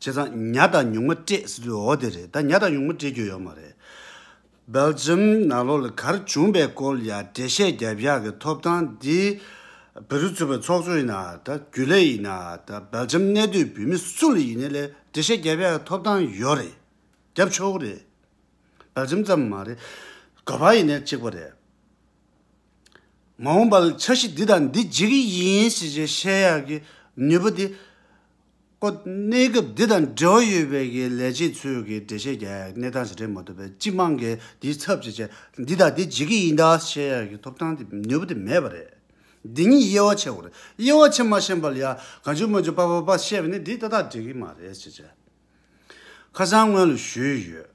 བྱས་ཙང་ཉྭ་དང་ཉུང་མ་སྤྲད་ཟེར་དུས་འོ་དེ་རེད་ད་ཉྭ་དང་ཉུང་མ་སྤྲད་རྒྱུ་ཡོད་མ་རེད། Belgium ནང་ལོགས་ལ་གར་བྱུང་པའི་སྐོར་ཡང་འགྲེལ་བཤད་བརྒྱབ་བཞག་གི་ཐོབ་ཐང་འདི་བེ་རུ་ཚུད་པའི་ཚོགས་གཙོ་ཡིན་ན་ད་རྒྱུ་ལས་ཡིན་ན་ད Belgium གནས་སྡོད་བོད་མི་སུ་ལ་ཡིན་ན་ལས་འགྲེལ་བཤད་བརྒྱབ་བཞག་གི་ཐོབ་ཐང་ཡོད་རེད་བརྒྱབ་ཆོག་གི་རེད། Belgium ཙམ་མ་རེད་དགོས་པ་ཡིན་ན་གཅིག་པ་རེད། མ་འོངས་པར་འཆར་གཞི་འདི་དང་འདི་བརྗེ་གི་ཡིན་ཞེས་བཤད་བཤད་ཡག་གི་ནུས་པ་དེ་ཀོ། གནས་སྐབས་འདི་དང་འབྲེལ་བ་ཡོད་པའི་གི་ལས་བྱེད་ཚོས་གི་འགྲེལ་བཤད་རྒྱག་ཡག་གི་གནས་སྟངས་ཞིག་རེད་མ་གཏོགས་པའི་སྤྱི་དམངས་གི་དེའི་ཚབ་བྱེད་བྱེད་འདི་དང་འདི་བརྗེ་གི་ཡིན་ད་བཤད་ཡག་གི་ཐོབ་ཐང་དེ་ནུས་པ་དེ་མེད་པ་རེད། འདི་གཉིས་དབྱེ་བ་ཕྱེ་དགོས་རེད་དབྱེ་བ་ཕྱེ་མ་ཤེས་པར་ཡ་ག་འཇུ་མ་འཇུ་པ་པ་པ་བཤད་པ་ནི་འདི་ཏག་ཏག་འགྲིག་གི་མ་རེད་ཅེས་བྱས། ཁ་སང་སྔོན་ལ་ཞུས་ཡོད།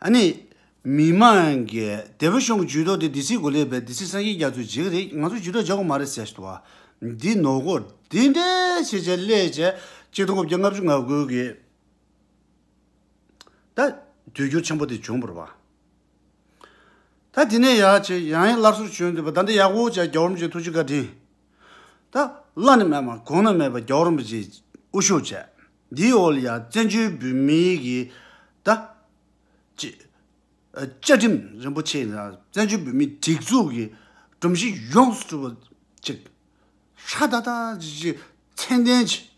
ཨ་ནི། མི་མང་གིས་དེ་བོད་གཞུང་གི་ཇུས་གཏོགས་དེ་སྡེ་སྲིད་གོ་ལས་པའི་སྡེ་སྲིད་སངས་རྒྱས་རྒྱ་མཚོས་བརྗེད་གི་རེད་ང་ཚོ་ཇུས་གཏོགས་བྱ་གོ་མ་རེད་ཟེར་བ། འདི་ནོར་གོ། འདི་འདྲའི་བྱེད་བྱས་སླད་བྱས་གཅིག་སྟོང་དགུ་བརྒྱ་ལྔ་བཅུ་ང་དགུ་གི། ད། དུས་འགྱུར་ཆེན་པོ་དེ་བྱུང་བར་བ། ད་དེ་ནས་ཡག་བྱས་ཡང་ཡང་སླར་གསོར་བྱོན་འདུག་པ་ད་འདི་ཡག་པོ་བྱས་རྒྱ་བོར་མི་བྱེད་ཐུགས་རྗེ་བཀའ་དྲིན། ད། བླ་ནི་མེད་མ་གོང་ན་མེད་པ་རྒྱ་བོར་མི་བྱེད་དབུ་ཤོག་བྱས། འདིའི་འོག་ལ་ཡང་བཙན་བྱོལ་བོད་མིའི་གི་ད། ཅེས། བཅའ་ཁྲིམས་རིན་པོ་ཆེ་དང་བཙན་བྱོལ་བོད་མིའི་སྒྲིག་འཛུགས་ཀྱི་སྒྲོམ་གཞི་ཡོངས་སུ་གྲུབ་པ་ཅིག་ཧྲ་ཏག་ཏག་ཅིག་ཅིག་མཚན་ལྡན་གྱིས།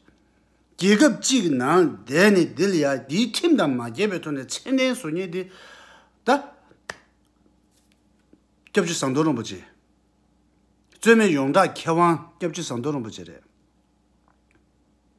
རྒྱལ་ཁབ་ཅིག་གི་ནང་བསྡད་ནས་འདི་ལ་ཡང་འདིའི་ཁྲིམས་དང་མ་བརྒྱད་པའི་ཐོག་ནས་མཚན་ལྡན་བཟོ་ཉེས་འདི་ད། སྐྱབས་རྗེ་ཟངས་མདོག་རིན་པོ་ཆེ། རྩོད་མེད་ཡོངས་གྲགས་མཁས་དབང་སྐྱབས་རྗེ་ཟངས་མདོག་རིན་པོ་ཆེ་རེད།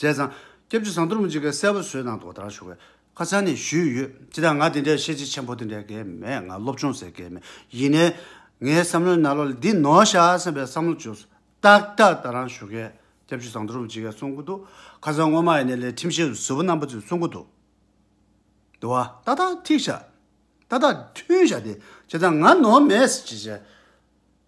བྱས་ཙང། སྐྱབས་རྗེ་ཟངས་གཏོར་མ་འཇིགས་བརྒྱད་གསལ་བར་བཟོས་དང་དོ་དང་ཞུ་བའི་ཁ་སང་ནས་ཞུས་ཡོད་སྤྱི་དང་ང་དེ་འདྲའི་ཤེས་བྱེད་ཆེན་པོ་དེ་འདྲའི་གལ་མེད་ང་སློབ་སྦྱོང་ཟེར་གལ་མེད་ཡིན་ནའི། ངའི་བསམ་བློའི་ན་ལོ་ལ་འདི་ནོ་ཤག་བསམ་པའི་བསམ་བློ་བཅོས་སོ། ཏག་ཏག་ད་རང་ཞུ་མཁན་སྐྱབས་རྗེ་ཟངས་གཏོར་མ་འཇིགས་བརྒྱད་གསུང་གི་འདུག་ཁ་སང་སྔོན་མ་ཡི་ནས་ལས་ཁྲིམས་བཤད་ཟུར་བ་རྣམ་པ་ཚོས་གསུང་གི་འདུག་དུ་བ། ཏག་ཏག་ཐིག་ཤག། ཏག་ཏག་མཐུན་ཤག་དེ་བྱས་ཙང་ང་ནོར་མེད་ཟེར་བྱས་བྱས།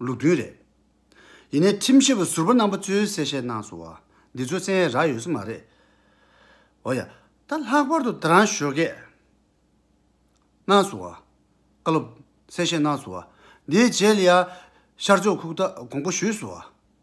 ལུགས་མཐུན་རེད། ཡིན་ནའི་ཁྲིམས་ཞིབ་པ་ཟུར་པ་རྣམ་པ་ཚོས་གསལ་བཤད་གནང་སོང་བ་འདི་ཚོ་བཙན་ཡས་རག་ཡོད་ས་མ་རེད། འོ་ཡ། ད་ལྷག་པར་དུ་ད་རང་ཞོ་གས་གནང་སོང་བ། བཀའ་སློབ་གསལ་བཤད་གནང་སོང་བ་འདིའི་རྗེས་ལ་ཡང་ཤར་ཕྱོགས་ཁུག་རྟ་དགོངས་པ་ཞུས་སོང་བ།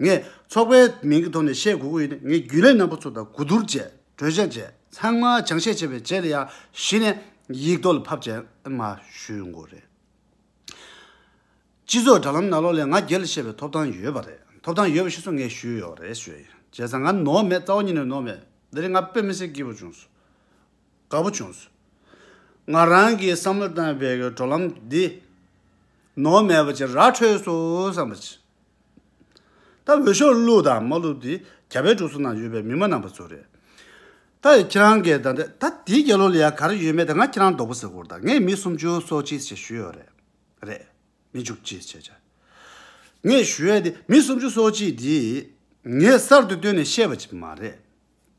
ངས་ཚོགས་པའི་མིང་གི་ཐོག་ནས་བཤད་དགོས་ཀྱི་ཡོད་ནི་ངས་རྒྱུན་ལས་རྣམ་པ་ཚོ་དང་གོ་བསྡུར་བྱས་གྲོས་བཤད་བྱས་ཚང་མ་ཅང་བཤད་བྱས་པའི་རྗེས་ལ་ཡར་གཞི་ནས་ཡིག་ཐོག་ལ་ཕབ་བྱས་མ་ཞུས་ཡོང་གི་རེད། སྤྱི་ཚོགས་དྲ་ལམ་ནང་ལོག་ལས་ང་སྒེར་ལ་བཤད་པའི་ཐོབ་ཐང་ཡོད་པ་རེད་ཐོབ་ཐང་ཡོད་པ་ཞིག་སོ་ངས་ཞུས་ཡོད་རེད་ཞུས་ཡིན་བྱས་ཙང་ང་ནོར་མེད་རྩ་བ་ཉིད་ནས་ནོར་མེད་འདི་རིགས་ང་དཔེ་མི་སྲིད་སྐྱིད་པོ་བྱུང་སོང་དགའ་པོ་བྱུང་སོང། ང་རང་གིས་བསམ་བློ་བཏང་བའི་གི་གྲོགས་ལམ་འདི། ནོར་མེད་པ་ཅིག་ར་འཕྲོད་སོང་བསམ་པ་ཅི། ད་འོས་ཤོག་བླུག་དང་མ་བླུག་དེ་རྒྱ་བལ་འབྲུག་སོགས་ནང་ཡོད་པའི་མི་མ་ནང་པ་ཚོ་རེད། ད་ཡང་ཁྱེད་རང་གིས་ད་ད་དེའི་རྒྱལ་ལོ་ལ་ཡང་ག་རེ་ཡོད་མེད་དེ་ང་ཁྱེད་རང་རྡོག་པོ་ཟེར་སྐོར་དང་ངས་མི་སུམ་ཅུ་སོ་གཅིག་ཞེས་ཞུས་ཡོད་རེད། རེད། མི་ཅུ་གཅིག་ཞེས་བྱ། ངས་ཞུས་ཡོད་དེ་མི་སུམ་ཅུ་སོ་གཅིག་དེ་ངས་གསར་དུ་བཏོན་ནས་བཤད་པ་ཅིག་མ་རེད།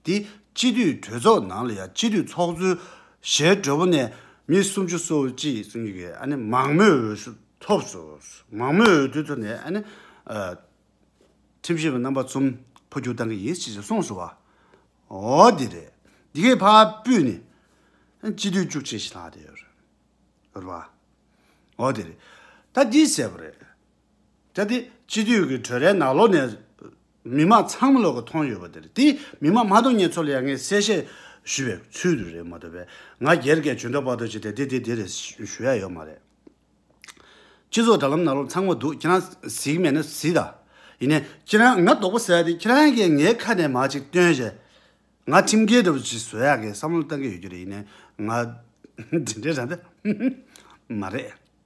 འདི་སྤྱི་འཐུས་གྲོས་ཚོགས་ནང་ལ་ཡང་སྤྱི་འཐུས་ཚོགས་གཙོའི་ཞལ་དྲོ་པོ་ནས་མི་སུམ་ཅུ་སོ་གཅིག་གསུམ་གྱིས་ཨ་ནི་མང་མོས་འོས་བསྡུ་ཐོབ་ཟོས། མང་མོས་འོས་བསྡུ་ཐོབ་ནས་ཨ་ནི། ཁྲིམས་ཞིབ་པ་རྣམ་པ་ཚོམ་འཕོ་འགྱུར་བཏང་གི་ཡིན་ཞེས་གསུངས་སོང་བ། འོ་དེ་རེད། འདི་གའི་ཕ་སྤུས་ནི། སྤྱི་འཐུས་བཅུ་གཅིག་ཞིག་ལྷག་བསྡད་ཡོད་རེད། འོ་དེ་རེད། ད་འདི་གསལ་པོ་རེད། གལ་ཏེ་སྤྱི་འཐུས་ཀྱི་གྲོས་རའི་ནག་ལོག་ནས་མི་དམངས་ཚང་མ་ལོག་གི་མཐོང་ཡོད་པ་དེར་དེས་མི་དམངས་མ་གཏོགས་ངས་ཚོ་ལ་ཡ་ངའི་གསལ་བཤད་ཞུས་པའི་ཚུལ་དུ་རེད་མ་གཏོགས་པས་ང་སྒེར་གྱི་ཇུས་འདྲ་པག་ཏོ་བྱས་ཏེ་དེ་དེ་དེ་རེད་ཞུ་ཡ་ཡོད་མ་རེད། སྤྱི་ཚོགས་དྲ་ལམ་ནག་ལོག་ཚང་མ་འདུག་ཁྱེད་རང་གཟིགས་མེད་ན་གཟིགས་དང། ཡིན་ནའི། ཁྱེད་རང་ང་དོག་པོ་བཟོ་ཡ་དེ་ཁྱེད་རང་གིས་ངའི་ཁ་ནས་མར་ཅིག་བཏོན་རྗེས། ང་ཁྲིམས་འགལ་འདྲ་པོ་ཞིག་བཟོ་ཡག་གི་བསམ་བློ་བཏང་གི་ཡོད་རྒྱུ་རེད་ཡིན་ནའི་ང་དེ་འདྲའི་ར་མདའ་མ་རེད།